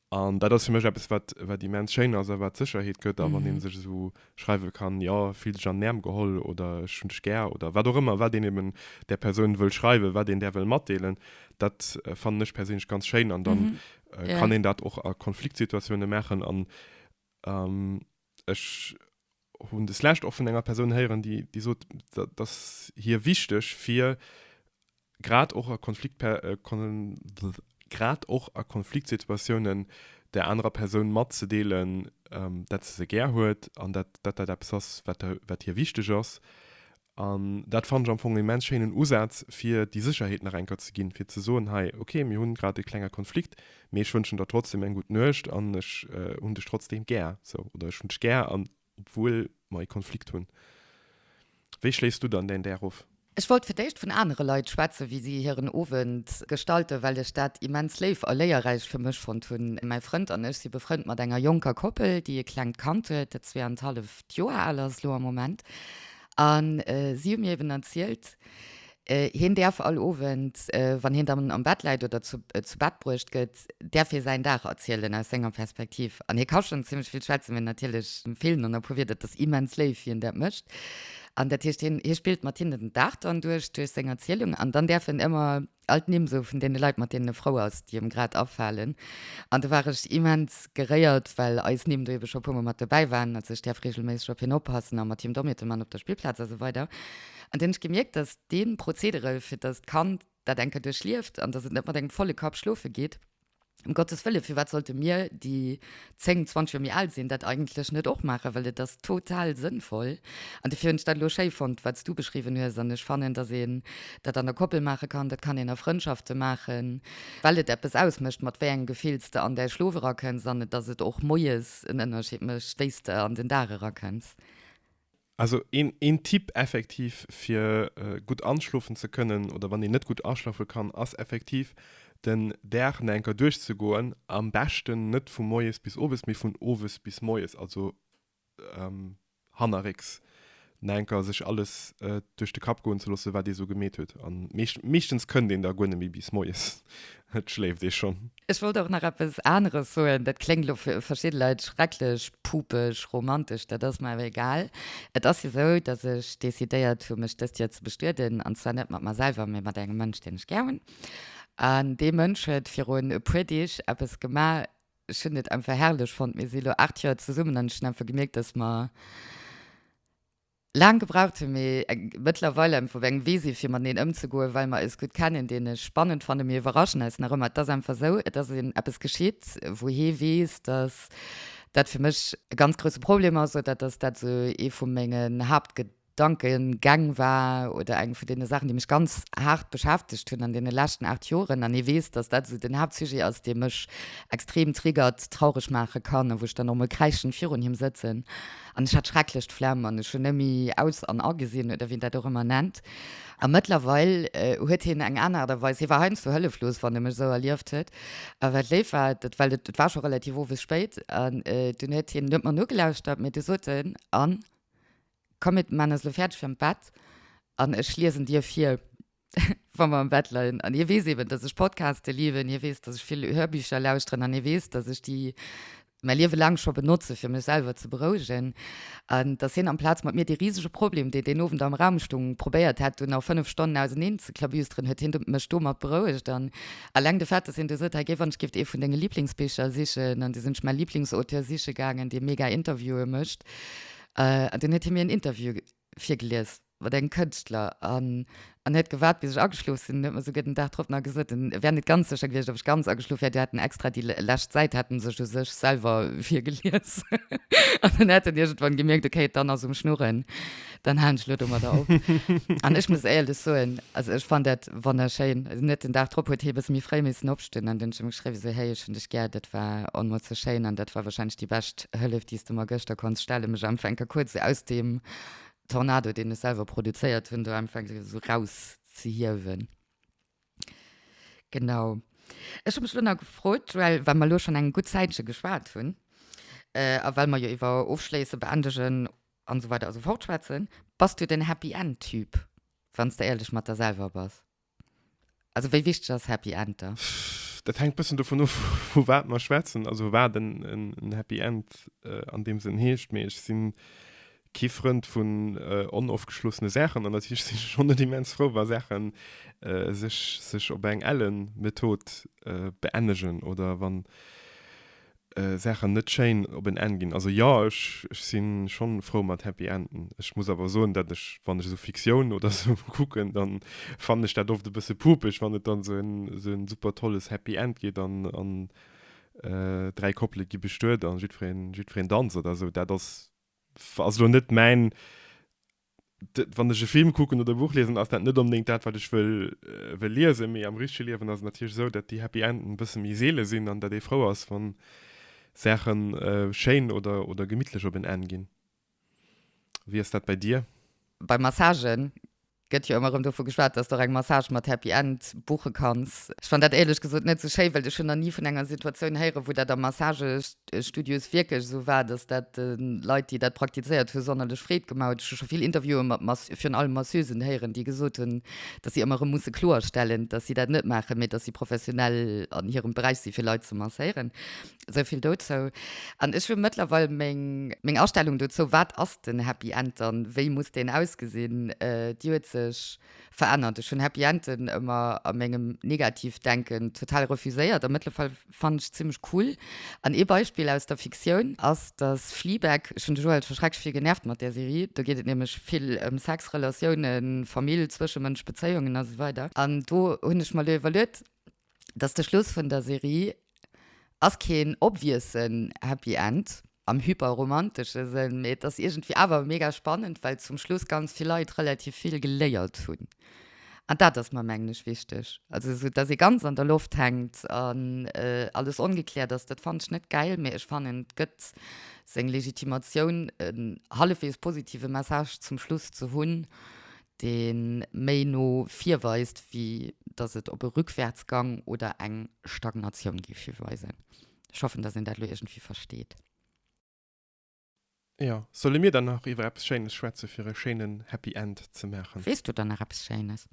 An dat ass fir mech eppes, wat immens schéin ass a wat Sécherheet gëtt. A wann ee sech esou schreiwe kann, jo, fill dech an den Äerm geholl oder ech hunn dech gär oder wat och ëmmer, wat een eben där Persoun wëll schreiwen, wat een där wëll matdeelen, dat fannen ech perséinlech ganz schéin. An da kann een dat och a Konfliktsituatiounen maachen. An ech hunn des Lescht och vun enger Persoun héieren, déi, déi sot, dat ass hir wichteg, fir grad och a Konflikt, grad och a Konfliktsituatiounen där anerer Persoun matzedeelen, dat se se gär huet an dat dat eppes ass, wat, wat hir wichteg ass. An dat fannen ech am Fong e immens schéinen Usaz, fir déi Sécherheet nach eng Kéier ze ginn, fir ze soen, hei, ok, mir hunn grad e klenge Konflikt, mee ech wënschen der trotzdeem eng gutt Nuecht an ech hunn dech trotzdeem gär, sou, oder ech hunn dech gär an obwuel mer e Konflikt hunn. Wéi schléiss du dann däin Däer of? Ech wollt fir d'éischt vun anere Leit schwätzen, wéi si hiren Owend gestalten, well ech dat immens léif a léierräich fir mech fonnt hunn. Mäi Frënd an ech si befrënnt mat enger jonker Koppel, déi e klengt Kand huet, dat zwee an d'hallef Joer al ass elo am Moment. An si hu mir eben erzielt, hien däerf all Owend, wann hien dann am Bett läit oder zu Bett bruecht gëtt, däerf hie säin Dag erzielen aus senger Perspektiv. An hie ka schonn zimlech vill schwätzen, mee natierlech feelen dann e puer Wierder. Et ass immens léif, wéi en dat mécht. An dat heescht, hie spillt mat hinnen den Dag dann duerch, duerch seng Erzielung. An dann däerf en ëmmer all d'Nimm esou vun deene Leit mat deenen e frou ass, déi em grad afalen an do war ech immens geréiert, well eis Nimm do ebe scho e puermol mat dobäi waren, also ech däerf regelméisseg op hien oppassen a mat him Dommiete man op der Spillplaz a sou weider an dunn ech gemierkt, datt dee Prozedere fir datt d'Kand dat eng Kéier duerchlieft an datt et net mat engem volle Kapp schlofe geet, Um Gottes Wille, firwat sollte mir, déi zéng, zwanzeg Joer méi al sinn, dat eigentlech net och maachen? Well et ass total sënnvoll. An dofir hunn ech dat elo schéi fonnt, wat s du beschriwwen hues. An ech fannen, datt een dat an der Koppel maache kann, dat kann een a Frëndschafte maachen, well et eppes ausmécht, mat wéi engem Gefill s de an däi Schlof erakënns an datt et och moies en Ënnerscheed mécht, wéi s de an den Dag erakënns. Also een een Tipp effektiv fir gutt anschlofen ze kënnen oder wann een net gutt aschlafe kann ass effektiv den Dag na enker duerchzegoen, am beschten net vu moies bis owes mee vun owes bis moies, also hannerrécks na enker sech alles duerch de Kapp goen ze loosse wat ee sou gemeet huet an meeschtens kënnt een da guer net méi bis moies, et schléift ee schonn. Ech wollt och nach eppes aneres soen, dat kléngt elo fir verschidde Leit schrecklech pupeg romantesch, dat ass mer awer egal. Et ass jo esou, datt ech decidéiert hu mech dëst Joer ze bestueden, an zwar net mat mer selwer, mee mat engem Mënsch, deen ech gär hunn. An dee Mënsch huet virun e puer Deeg eppes gemaach, ech hunn et einfach herrlech fonnt. Mir si lo 8 Joer zesummen an ech hunn einfach gemierkt, datt mer. Laang gebraucht hun mee eng mëttlerweil emfo wéi eng Wese fir mateneen ëmzegoen well mer eis gutt kennen. Deen ech spannend fannen, mir iwwerraschen eis nach ëmmer. Et ass einfach sou, et ass een eppes geschitt wou hee weess dass dat fir mech e ganz grousse Problem ass oder dass dat sou ee vu mengen Haaptgedankengäng war oder eng vun deene Saachen déi mech ganz haart beschäftegt hunn an deene leschten 8 Joren an ee weess dass dat sou den Haaptsujet ass dee mech extrem triggert, traureg maache kann a wou ech dann och mol kräischend virun him sëtzen. An ech hat schrecklech d'Flemm an ech hunn nëmme aus an agesinn, oder wéi een dat och ëmmer nennt. A mëttlerweil huet hien eng aner Aart a Weis, hie war heiansdo hëlleflos, wann e mech esou erlieft huet. A wat léif war, dat well et war scho relativ owes spéit, an dunn huet hien net mer nogelauschtert, mee du sot en, Anne, komm mir man eis elo fäerdeg fir an d'Bett an ech liesen dir vir. wa mer am Bett leien. An hie weess eben, dass ech Podcaste lieben, hie weess, dass ech vill Hörbücher lauschteren an hie weess, dass ech déi mäi Liewe laang scho benotze fir mech selwer ze berouegen. An dass hien amplaz mat mir dee risege Problem, dee deen Owend am Raum stung, probéiert hätt no fënnef Stonnen auseneen ze klabüsteren, huet hien mech domat berouegt. An eleng de Fait, dass hien du sot, Hei géif wann ech géif ee vun denge Liblingsbicher sichen an du sinn ech mäi Liblingsauteur siche gaangen, dee mega Interviewe mécht. An dunn huet hie mir en Interview Virgelies mat engem Kënschtler an an huet gewaart, bis ech ageschlof sinn. Huet mer souguer den Dag drop nach gesot, en wär net ganz sécher gewiescht, ob ech ganz ageschlof wär. Déi hätten extra déi lescht Säit hätten sech u sech selwer virgelies an dann hätt en iergendwann gemierkt, ok, et dann ass um Schnurren, dann haen ech elo domadder op. An ech muss éierlech soen, also ech fannt dat wonnerschéin. Net den Dag drop huet hee e bësse méi fréi missen opstinn. Stinn an dunn hunn ech em geschriwwen esou, hey ech hunn dech gär, dat war onmools sou schéin an dat war wahrscheinlech déi bescht Hëllef déi s de mer gëschter konns stellen, mech einfach enker kuerz sou aus deem Tornado deen ech selwer produzéiert hunn do einfach enker sou raus ze hiewen. Genau. Ech hu mech elo nach gefrot, Joelle, well mer elo schonn eng gutt Zäitche geschwat hunn a well mer jo iwwer ofschléissen, beendegen an esou weider a sou fort schwätzen, bass du den Happy End Typ, wann s de éierlech mat der selwer bass? Also wéi wichteg ass Happy End der? Dat hänkt bëssen dovun of, vu wat mer schwätzen, also wat en Happy End an deem Sënn heescht. Mee ech si kee Frënd vun onofgeschlossene Saachen an dat heescht, ech si schonn net immens frou, wa Saache sech op eng elle Method beennegen oder wann Saachen net schéin op en Enn ginn. Also jo, ech si schonn frou mat Happy Enden. Ech muss awer soen, datt ech, wann ech esou Fiktioun oder esou kucken, dann fannen ech dat oft e bësse puupeg, wann et dann esou en super tolles Happy End gëtt an dräi Koppele gi bestuet an jiddwereen danzt oder esou. Dat ass, ass elo net mäin wann ech e Film kucken oder e Buch liesen, ass dat net onbedéngt dat, wat ech wëll, wëll liesen. Mee am richtege Liewen ass et natierlech esou, datt déi Happy Enden e bësse méi seele sinn an datt ee frou ass, wann Saache schéin oder, oder gemittlech op en Enn ginn. Wéi ass dat bei dir? Bei Massagë gëtt jo ëmmer erëm dovu geschwat, datt s de och eng Massage mat Happy End buche kanns. Ech fann dat éierlech gesot net esou schéi, well ech hunn nach ni vun enger Situatioun héieren, wou dat am Massage De Studio ass wierklech esou war, dass dat de Leit, déi dat praktizéiert hu sonnerlech Freed gemaach huet. Ech hu scho vill Interviewen mat Mass virun allem Masseusen héieren, déi gesot hunn, dass si ëmmer erëm musse kloerstellen, dass si dat net maachen, mee dass si professionell an hirem Beräich si fir Leit ze masséieren. Esou vill dozou. An ech hu mëttlerweil meng, meng Astellung dozou, wat ass den Happy End dann, wéi muss deen ausgesinn, déi huet sech, verännert. Ech hunn Happy Enden ëmmer a mengem Negativ-Denken total refuséiert a mëttlerweil fannen ech se zimlech cool. An ee Beispill aus der Fiktioun ass, dass Fleabag, ech hunn de Joël scho schrecklech vill genervt mat där Serie, do geet et nämlech vill ëm Sex, Relatiounen, Famill, zwëschemënschlech Bezéiungen a sou weider an do hunn ech mer elo iwwerluet, dass de Schluss vun der Serie ass keen obviousen Happy End am hyperromantesche Sënn, mee et ass iergendwéi awer mega spannend, well zum Schluss ganz vill Leit relativ vill geléiert hunn. An dat ass mer, mengen ech, wichteg. Also esou, dass ee ganz an der Loft hänkt an alles ongekläert ass, dat fand ech net gäil, mee ech fannen, et gëtt seng Legitimatioun, en hallefweegs positive Message zum Schluss ze hunn, dee méi no vir weist, wéi datt et op e Rückwärtsgang oder eng Stagnatioun géif hiweisen. Ech hoffen, datt een dat elo iergendwéi versteet. Jo, solle mir dann nach iwwer eppes Schéines schwätze fir e schéinen Happy End ze maachen? Weess du dann nach eppes Schéines?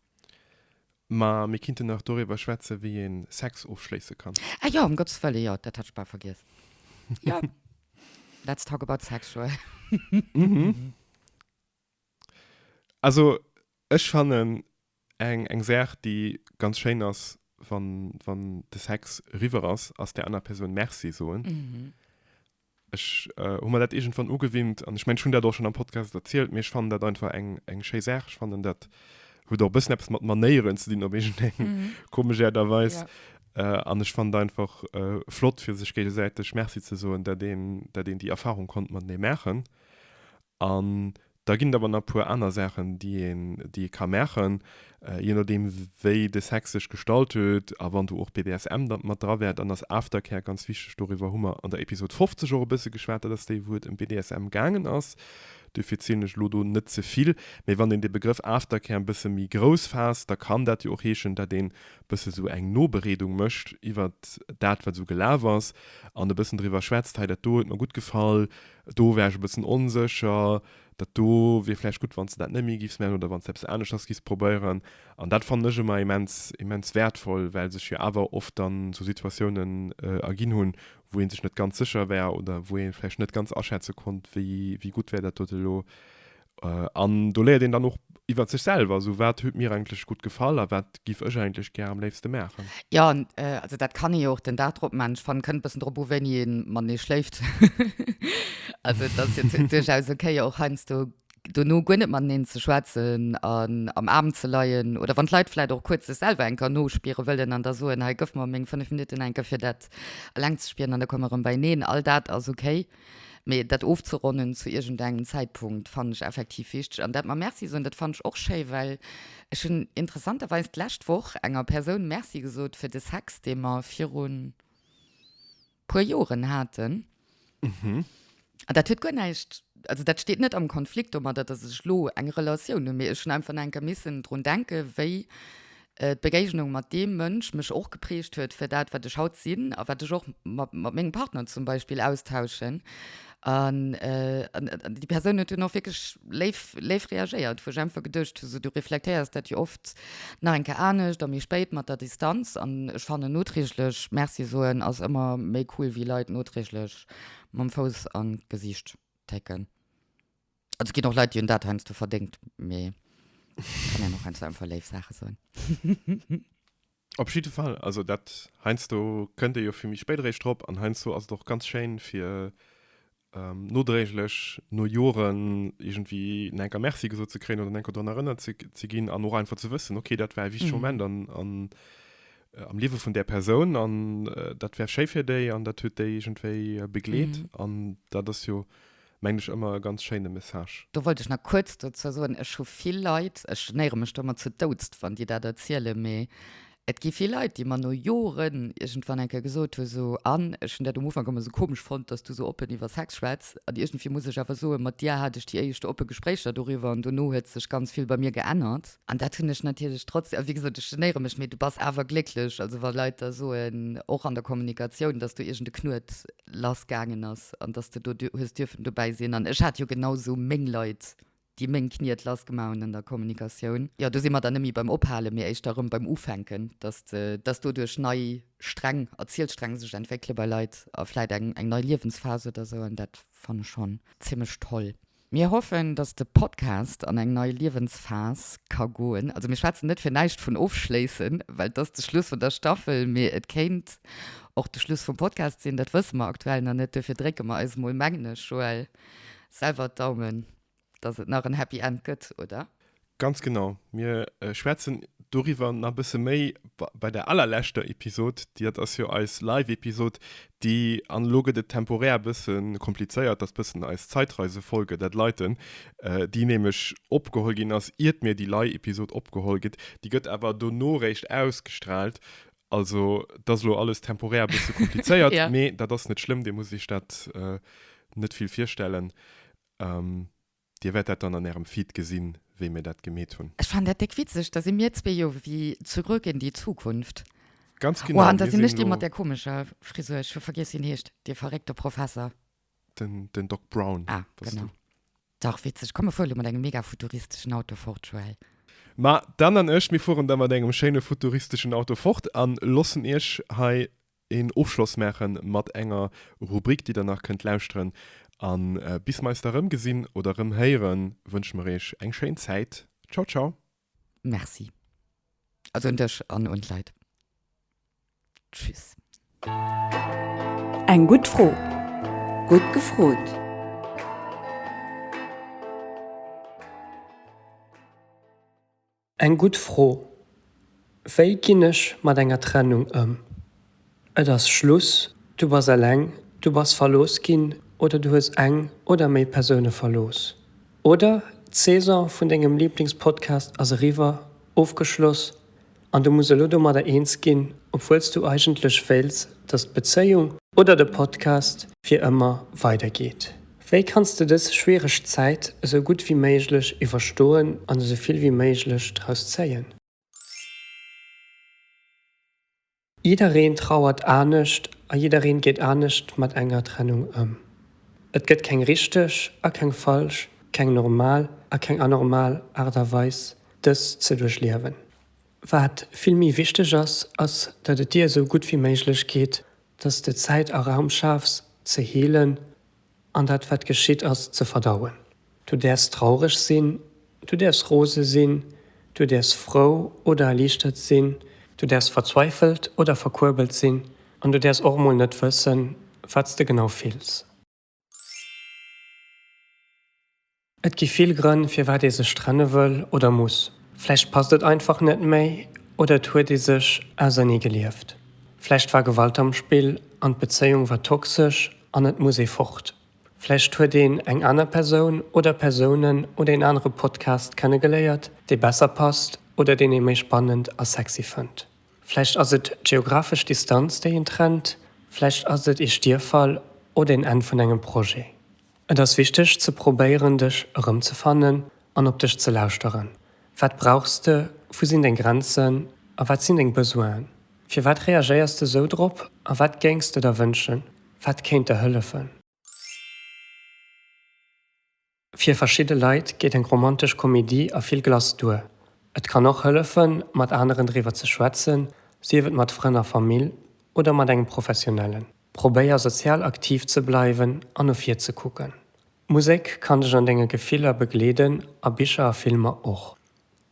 Ma mir kinnten nach doriwwer schwätze wéi ee Sex ofschléisse kann. Ah jo, ëm Gottes Wëlle, jo, dat hat ech bal vergiess. Jo, let's talk about sexual. Also ech fannen eng eng Saach déi ganz schéin ass wann wann de Sex eriwwer ass, ass der aner Persoun Merci soen. Ech hu mer dat iergendwann ugewinnt an ech mengen ech hunn dat och schonn am Podcast erzielt, mee ech fannen dat einfach eng eng schéi Saach. Ech fannen dat huet och e bëssen eppes mat Manéieren ze dinn op iergendeng komesch Äert a Weis an ech fannen et einfach flott fir sech géigesäiteg Merci ze soen, dat een dat een déi Erfarung konnt matenee maachen. An da ginn et awer nach e puer aner Saachen, déi een, déi ee ka maachen, je nodeem, wéi de Sex sech gestalt huet a wann do och BDSM dann mat dra wär. Dann ass Aftercare ganz wichteg. Doriwwer hu mer an der Episod 50 och e bësse geschwat. Dat ass déi, wou et ëm BDSM gaangen ass. Dofir zielen ech elo do net ze vill. Mee wann een de Begrëff Aftercare e bësse méi grouss faasst, da kann dat jo och heeschen, dat een e bësse sou eng Nobereedung mécht iwwert dat, wat esou gelaf ass an e bëssen driwwer schwätzt, Hei, dat do huet mer gutt gefall. Do war ech e bëssen onsécher. Dat do wier vläicht gutt, wann s de dat net méi giffs maachen oder wann s de eppes aneschters giffs probéieren. An dat fannen ech ëmmer immens, immens wäertvoll, well sech jo awer oft dann esou Situatiounen erginn hunn, wou ee sech net ganz sécher war oder wou ee vläicht net ganz aschätze konnt, wéi, wéi gutt wär dat dote lo An do léiert een dann och iwwer sech selwer, sou wat huet mir eigentlech gutt gefall a wat giff ech eigentlech gär am léifste maachen. Jo, also dat kann ee jo och den Dag drop maachen. Ech fannen, et kënnt e bëssen drop u wéini ee matenee schléift. Also et ass jo duerchaus ok jo och heiansdo dono guer net mateneen ze schwätzen an am Aarm ze leien oder wann d'Leit vläicht och kuerz sech selwer eng Kéier nospiere wëllen an da soen, hei gëff mer meng fënnef Minutten eng Kéier fir dat eleng ze spieren an da komme mer erëm beieneen. All dat ass ok. Mee dat ofzeronnen zu iergendengem Zäitpunkt fannen ech effektiv wichteg. An dat mam Merci soen, dat fannen ech och schéi, well ech hunn interessanterweis d'lescht Woch enger Persoun Merci gesot fir de Sex, dee mer virun puer Joren haten. An dat huet guer näischt, also dat steet net am Konflikt domadder, dass ech elo eng Relatioun hunn, mee ech hunn einfach nach eng Kéier missen drun denken, wéi d'Begéignung mat deem Mënsch mech och geprägt huet fir dat wat ech haut sinn a wat ech och mat mengem Partner zum Beispill austauschen an déi Persoun huet dunn och wierklech léif léif reagéiert, wou ech einfach geduecht hu, sou du reflektéiers dat jo oft nach eng Kéier anescht a méi spéit mat der Distanz an ech fannen noträglech Merci soen ass ëmmer méi cool wéi Leit noträglech mam Fouss an d'Gesicht técken. Also ginn och Leit, déi hunn dat heiansdo verdéngt, mee kann een och heiansdo einfach léif Saache soen. Op jidde Fall, also dat heiansdo kënnt ee jo fir méi spéit eréischt drop an heiansdo ass et och ganz schéin, fir nodréiglech, no Joren, iergendwéi nach enker Merci gesot ze kréien oder nach enker drun erënnert ze ginn an och einfach ze wëssen, ok, dat war e wichtege Moment am Liewe vun där Persoun an dat war schéi fir déi an dat huet déi iergendwéi begleet an dat ass jo. Mengen ech ëmmer e ganz schéine Message. Do wollt ech nach kuerz dozou soen, ech hu vill Leit, ech genéiere mech do ëmmer zu Doudst, wann déi dat erzielen, mee et gi vill Leit, déi mer no Joren iergendwann eng Kéier gesot hu sou, an ech hunn dat um Ufank ëmmer sou komesch fonnt, dass du sou oppen iwwer Sex schwätz, an iergendwéi muss ech awer soen, mat dir hat ech déi éischt oppe Gespréicher doriwwer an dono huet sech ganz vill bei mir geännert. An dat hunn ech natierlech trotz, a wéi gesot, ech genéiere mech, mee du bass awer glécklech, also wa Leit da soen, och an der Kommunikatioun, dass do iergend e Knuet lass gaangen ass an dass de do hues dierfen dobäi sinn an ech hat jo genau sou meng Leit déi meng Kniet lass gemaach hunn an der Kommunikatioun. Jo do si mer dann net méi beim Ophalen, mee éischter erëm beim Ufänken, dass de dass doduerch nei Sträng, Erzielsträng sech entwéckele bei Leit a vläit eng eng nei Liewensphase oder sou an dat fanne schonn zimmlech toll. Mir hoffen, dass de Podcast an eng nei Liewensphas ka goen. Also mir schwätzen net fir näischt vun ofschléissen, well et ass de Schluss vun der Staffel, mee et kéint och de Schluss vum Podcast sinn, dat wësse mer aktuell nach net. Duerfir drécke mer eis mol, mengen ech, Joël, selwer d'Daumen, dass et nach en Happy End gëtt, oder? Ganz genau. Mir schwätzen doriwwer nach e bësse méi bei der allerleschter Episod. Dat ass jo eis Live-Episod, déi, an elo gëtt et temporär e bësse komplizéiert, ass e bëssen eis Zeitreisefolge, dat leiten, déi nämlech opgeholl ginn ass, iert mir déi Leih-Episod opgeholl gëtt. Déi gëtt awer dono réischt ausgestraalt. Also, et ass elo alles temporär e bësse komplizéiert, mee dat ass net schlëmm. Dir musst iech dat net vill virstellen. Dir wäert dat dann an ärem Feed gesinn, wéi mir dat gemeet hunn. Ech fannen dat déck witzeg, da si mir zwee jo wéi Zurück in die Zukunft. Ganz genau, mir sinn elo. Oh, an da sinn ech dee mat där komescher Frisur, ech hu vergiess, wéi en heescht, dee verréckte Professer. Den, den Doc Brown. Ah, genau. Dach witzeg. Komm, mir fuere elo mat engem mega futuristeschen Auto fort, Joël. Ma d'Anne an ech, mir fueren da mat engem schéine futuristeschen Auto fort a loossen iech hei een Ofschloss maache mat enger Rubrik, déi Der nach kënnt lauschteren. A bis mer eis da erëmgesinn oder erëmhéieren, wënsche mer Iech eng schéin Zäit. Ciao, ciao! Merci. Also un dech an un d'Leit. Tschüss. Eng gutt Fro, gutt gefrot. Eng gutt Fro. Wéi ginn ech mat enger Trennung ëm? Et ass Schluss, du bass eleng, du bass verlooss ginn oder du hues eng oder méi Persoune verlooss. Oder d'Saison vun dengem Lieblingspodcast ass eriwwer, ofgeschloss, an du muss elo domadder eens ginn, obwuel s du eigentlech wéilts, datt d'Bezéiung oder de Podcast fir ëmmer weidergeet. Wéi kanns de dës schwiereg Zäit esou gutt wéi méiglech iwwerstoen an esou vill wéi méiglech draus zéien? Jiddereen trauert anescht a jiddereen geet anescht mat enger Trennung ëm. Et gëtt keng richteg a keng falsch, keng normal a keng anormal Aart a Weis dës ze duerchliewen. Wat vill méi wichteg ass, ass datt et dir esou gutt wéi méiglech geet Dass s de Zäit a Raum schafs, ze heelen an dat, wat geschitt ass, ze verdauen. Du däerfs traureg sinn, du däerfs rose sinn, du däerfs frou oder erliichtert sinn, du däerfs verzweifelt oder verkuerbelt sinn an du däerfs och emol net wëssen, wat s de genau fills. Et gi vill Grënn, firwat ee sech trenne wëll oder muss. Vläicht passt et einfach net méi oder et huet ee sech auserneegelieft. Vläicht war Gewalt am Spill an d'Bezéiung war toxesch an et muss ee fort. Vläicht huet een eng aner Persoun oder Persounen oder een anere Podcast kennegeléiert, dee besser passt oder deen ee méi spannend a sexy fënnt. Vläicht ass et d'geographesch Distanz, déi een trennt, vläicht ass et ee Stierfall oder een Enn vun engem Projet. Et ass wichteg ze probéieren, dech erëmzefannen an op dech ze lauschteren. Wat brauchs de, wou sinn deng Grenzen a wat sinn deng Besoinen? Firwat reagéiers de sou drop a wat géings de der wënschen? Wat kéint der hëllefen? Fir verschidde Leit geet eng romantesch Komedie a vill Glace duer. Et kann och hëllefen, mat aneren driwwer ze schwätzen, sief et mat Frënn a Famill oder mat engem Professionellen. Probéier sozial aktiv ze bleiwen an no vir ze kucken. Musek kann dech an denge Gefiller begleeden a Bicher a Filmer och.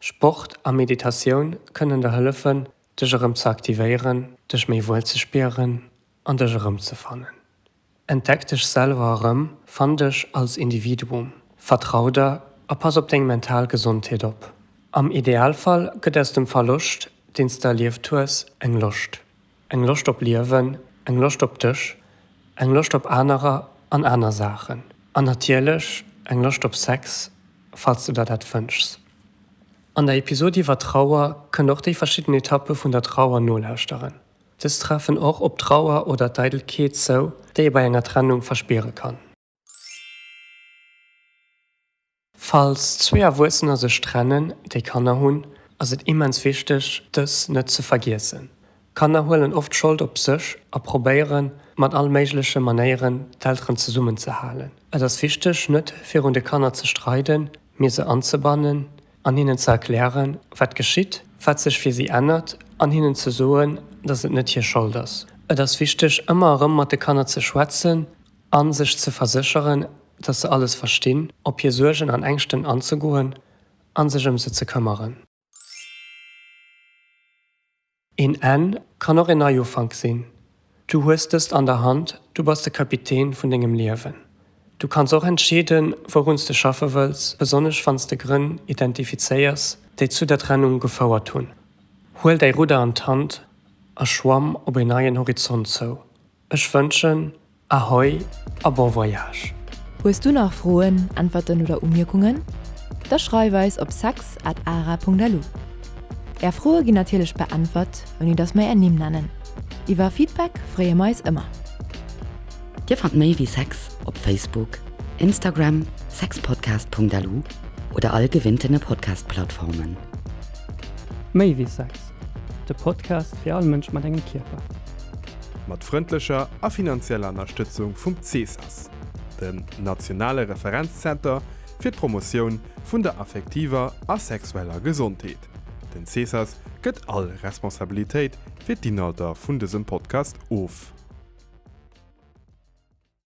Sport a Meditatioun kënnen der hëllefen, dech erëm ze aktivéieren, dech méi wuel ze spieren an dech erëmzefannen. Entdeck dech selwer erëm, fann dech als Individuum, vertrau der a pass op deng mental Gesondheet op. Am Idealfall gëtt aus dem Verloscht, deen s de erlieft hues, eng Loscht. Eng Loscht op Liewen, eng Loscht op dech, eng Loscht op anerer an aner Saachen an natierlech eng Loscht op Sex, falls de der dat wënschs. An der Episod iwwer Trauer kënnt och déi verschidden Etappe vun der Trauer nolauschteren. Dës treffen och op Trauer oder d'Eidelkeet zou, déi ee bei enger Trennung verspiere kann. Falls zwee Erwuessener sech trennen, déi Kanner hunn, ass et immens wichteg, dës net ze vergiessen. Kanner huelen oft Schold op sech a probéiere mat all méigleche Manéieren, d'Elteren zesummenzehalen. Et ass wichteg, net virun de Kanner ze streiden, mee se anzebannen, an hinnen ze erklären, wat geschitt, wat sech fir si ännert, an hinnen ze soen, dass et net hir Schold ass. Et ass wichteg, ëmmer erëm mat de Kanner ze schwätzen a sech ze versécheren, dass se alles verstinn, op hir Suergen an Ängschten anzegoen a sech ëm se ze këmmeren. Een Enn kann och een Neiufank sinn. Du hues dëst an der Hand, du bass de Kapitän vun dengem Liewen. Du kanns och entscheeden, wouruns de schaffe wëlls, besonnesch wanns de Grënn identifizéiers, déi zu der Trennung gefouert hunn. Huel däi Rudder an d'Hand a schwamm op een neien Horizont zou. Ech wënschen Ahoi a bon voyage! Hues du nach Froen, Äntwerten oder Umierkungen? Da schreif eis op sex at ara.lu. Är Froe ginn natierlech beäntwert, ouni datt mer är Nimm nennen. Iwwer Feedback freeë mer eis ëmmer. Dir fannt méi wéi sex op Facebook, Instagram, sexpodcast.lu oder all gewinnten Podcast-Plattformen. Méi wéi sex. De Podcast fir all Mënsch mat engem Kierper. Mat frëndlecher a finanzieller Ënnerstëtzung vum CESAS, den nationale Referenzzenter fir d'Promotioun vun der affektiver a sexueller Gesondheet. Den CESAS gëtt all Responsabilitéit fir d'Inhalter vun dësem Podcast of.